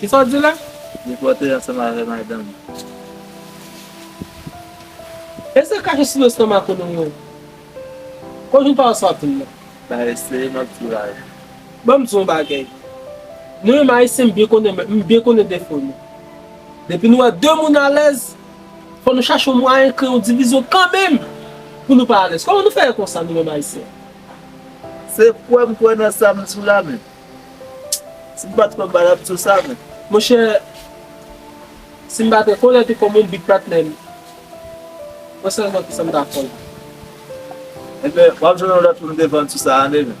Kisa w di la? Li pote ansanm avè madanm. E sa kache sou do stomak ou nou menm? Kòj nou pa wè sa w di la? Ba eseye map di w la wi. Ban m di w yon bagay. Nou menm ayisyen m byen konnen men m byen konnen defo nou. Depi nou wè de moun alèz, fò nou chache yon mwayen kreye yon divizyon kanmenm pou nou pa alèz. Kòman nou fè konsa nou menm ayisyen? Se kwè m kwè nan sa m di w la men. Si m pa t kwè m pa t ap di w sa men. Monchè, si m pa te konnen te kòm yon big patnè m, mwen sèlman ki sa m ta fè l. Enben, w ap jwenn yon lòt moun devan m sou sa ane men.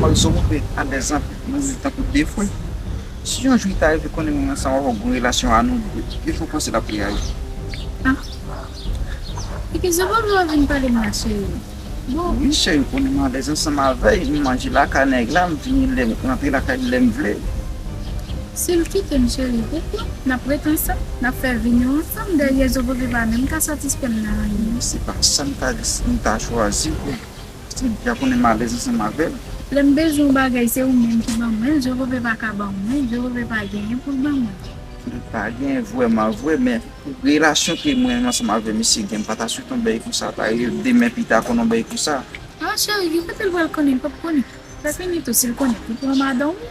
Pawòl Zorobey a de zan mouri tankou de fwe. Si yon jou li ta rive konnen moman sa wap wè gwo relasyon a nou de, de fwe panse lap reyaji. Ah epi Zorobey wap vin pale m la cheri bon. Wi cheri ou konnen m alèz ansanm avèy, m manje lakay nèg la, m vini lèm rantre lakay li lèm vle. Sil kite m cheri poukoi nap ret ansanm, nap fè vi nou ansanm dèyè Zorobey pa menm ka satisfè m nan anyen. Se pa sa m ta chwazi pou. Cynthia konnen m alèz ansanm avè l. Lè m bezwen yon bagay se ou menm ki ban mwen l, Jewove pa ka ban mwen, Jewove pa genyen pou l ban mwen. Li pa genyen vrèman vre, men relasyon ke mwen menm ansanm avè misye gen, m pa ta swete yon bèy konsa ta rive demen pita konnen yon bèy konsa. Ah cheri, ki kote l pral konnen, li p ap konnen. Sa fini tou si l konnen, li pran madan w.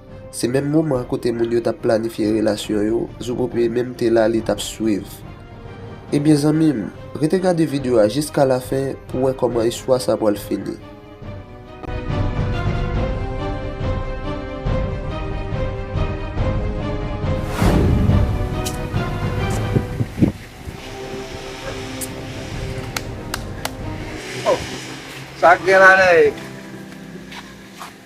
Se menm moman an kote moun yo tap planifye relasyon yo, Zobope menm te la li tap swiv. Ebyen zanmi m, rete gade video a jiska la fen pou wè kòman istwa sa pwal fini.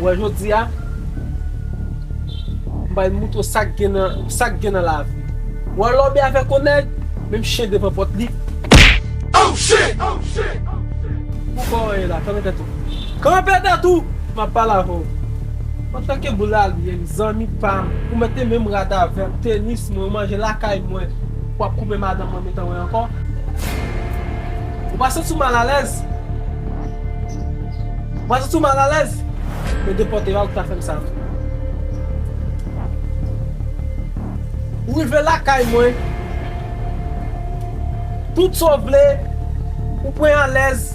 Wè jodi a, m bay mout ou sa k gen nan, sa k gen nan lavi. Wè lò bè avèk on nèg, menm chen devan pòt li. Oh shit! Poukò w ye la? Kanpe tèt ou. Kanpe tèt ou! M ap pale avè w. Antanke boulalye m zanmi pam ou mete menm rad avèm tenis mwen ou manje lakay mwen wap koupe madanm mwen metan wè ankò ou pa santi w mal alèz ou pa santi w mal alèz yo depòte a ou ki ta fèm sa tou ou rive lakay mwen tout sa w vle ou pwen alèz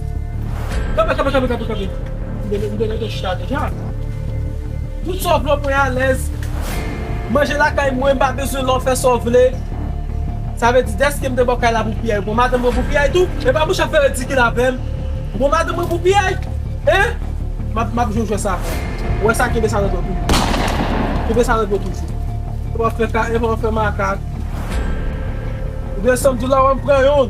kanpe kanpe kanpe kanpe. Mete mete mete chita deja. Tout sa w vle w pran alèz. Manje lakay mwen, m pa bezwen la w fè sa w vle. Sa vle di dèske m te ba w kay la pou piyay, w pran madanm mwen pou piyay tou? E pa bouch ap fè ridikil avè m. Ou pran madanm mwen pou piyay? Hein! M ap m ap jwe jwèt sa avè w. Ou wè sa kenbe sa nan men w toujou. Kenbe sa nan men w toujou. Epa w fè ka epa w fè makak. Oubyen san m di w la w al m pran youn.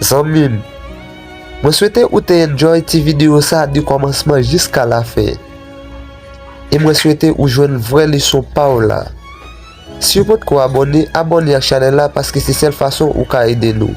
Zanmim Mwen swete ou te enjoy ti video sa de komansman jiska la fen e mwen swete ou jwenn vrè leson paw la siw potko abone abone ak chanel la paske se sèl fason ou ka ede nou.